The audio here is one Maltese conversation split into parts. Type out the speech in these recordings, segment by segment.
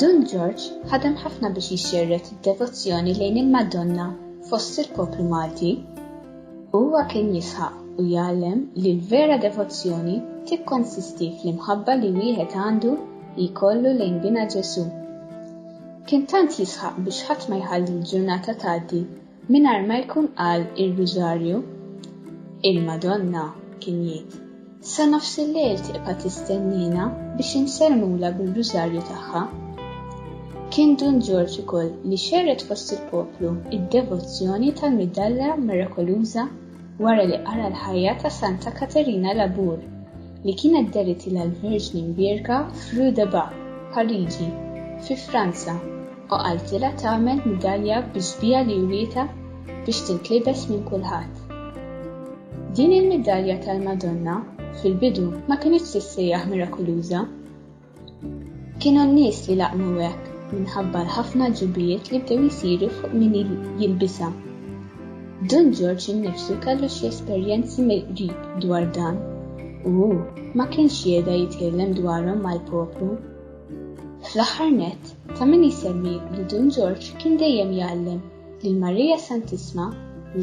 Dun George ħadem ħafna biex jixxerret id-devozzjoni lejn il-Madonna fost il-poplu Malti. Huwa kien jisħaq u jgħallem li l-vera devozzjoni tikkonsisti fl-imħabba li wieħed għandu li jkollu lejn bina Ġesù. Kien tant jisħaq biex ħadd ma jħalli l-ġurnata tgħaddi Mingħajr ma jkun qal ir-Rużarju, il-Madonna, kien jgħid, Sa nofsillejl tibqa' tistenniena biex insellmulha bir-Rużarju tagħha. Kien Dun Ġorġ ukoll li xerred fost il-poplu d-devozzjoni tal-Midalla Mirakoluża. wara li qara l-ħajja ta' Santa Katerina Labour, li kienet deritilha l-Verġni Mbierka f'Rue de Bar, Pariġi, fi Franza, u qaltilha tagħmel midalja bi xbieha li wrietha biex tintlibes minn kulħadd. Din il-midalja tal-Madonna, fil-bidu, ma kinitx tissejjaħ mirakuluża. Kienu n-nies li laqmu hekk minħabba l-ħafna ġubijiet li bdew jsiru fuq min jilbisha. Dun Ġorġ innifsu kellu xi esperjenzi mill-qrib dwar dan u hu ma kienx jehda jitkellem dwarhom mal-poplu. Fl-aħħar nett, ta' min jsemmi li Dun Ġorġ kien dejjem jgħallem li l-Marija Santissma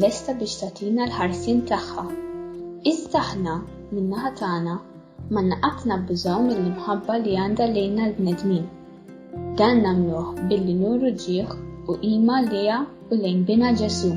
lesta biex tagħtina l-ħarsien tagħha. Iżda aħna, min-naħa tagħna, M'għandna qatt nabbużaw mill-imħabba li għandha lejna l-bnedmin. Dan nagħmluh billi nuru ġieħ u qima lejha u lejn Binha Ġesù.